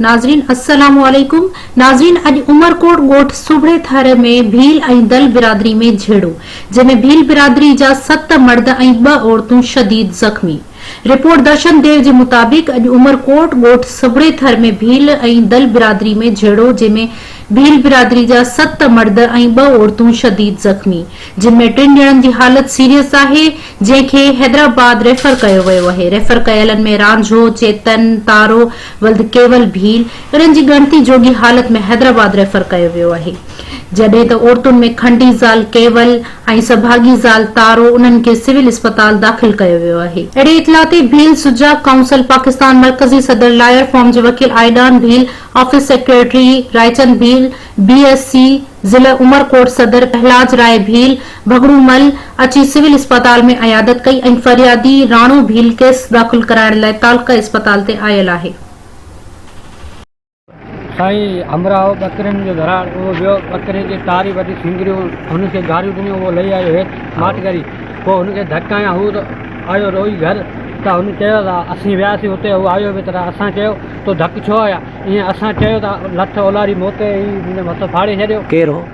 ناظرين السلام عليڪم ناظرين اڄ عمرڪوٽ ڳوٺ سوڀڙي ٿر ۾ ڀيل ۽ دل برادري ۾ جهيڙو جنهن ۾ ڀيل برادري جا ست مرد ۽ ٻه عورتون شديد زخمي رپورٽ درشن ديو جي مطابق اڄ عمرڪوٽ ڳوٺ سگهڙي ٿر ۾ ڀيل ۽ دل برادري ۾ جهيڙو جنهن ۾ ڀيل برادري جا ست مرد ۽ ٻه عورتون شديد زخمي جن ۾ ٽن ڄڻن جي حالت سيريس آهي جنهن کي حيدرآباد ريفر ڪيو ويو اهي ريفر ڪيلن ۾ رانجهو چيتن تارو ولد ڪيول ڀيل انهن جي ڳڻتي جوڳي حالت ۾ حيدرآباد ريفر ڪيو ويو آهي جڏهن ته عورتن ۾ کنڊي زال ڪيول ۽ سڀاڳي زال تارو انهن کي سول اسپتال داخل ڪيو ويو آهي. اهڙي اطلاع تي ڀيل سجاڳ ڪائونسل پاڪستان مرڪزي صدر لائر فورم جي وڪيل Aidan Bheel, office secretary Raichand Bheel, B S C ضلع عمرڪوٽ صدر پهلاج راء ڀيل، ڀڳڙو مل، اچي سول اسپتال ۾ عيادت ڪئي ۽ فريادي راڻو ڀيل ڪيس داخل ڪرائڻ لاء تعلقه اسپتال تي آيل آهي. سائين همراهه ٻڪرين جو ڌراڙ، اهو ويو ٻڪري جي ٽاري وٽي سينگريون هن کي گاريون ڏنيون، اهو لهي آيو هيٺ ماٺ ڪري، پوء هن کي ڌڪ هنيا، هو ته آيو روئي گهر ته هن چيو ته اسين وياسين اتي هو آيو به تڏهن اسان چيو تو ڌڪ ڇو هنيا، ائين اسان چيو ته لٺ اولاري موتي ئي منهنجو مٿو ڦاڙي ڇڏيو. ڪير هو؟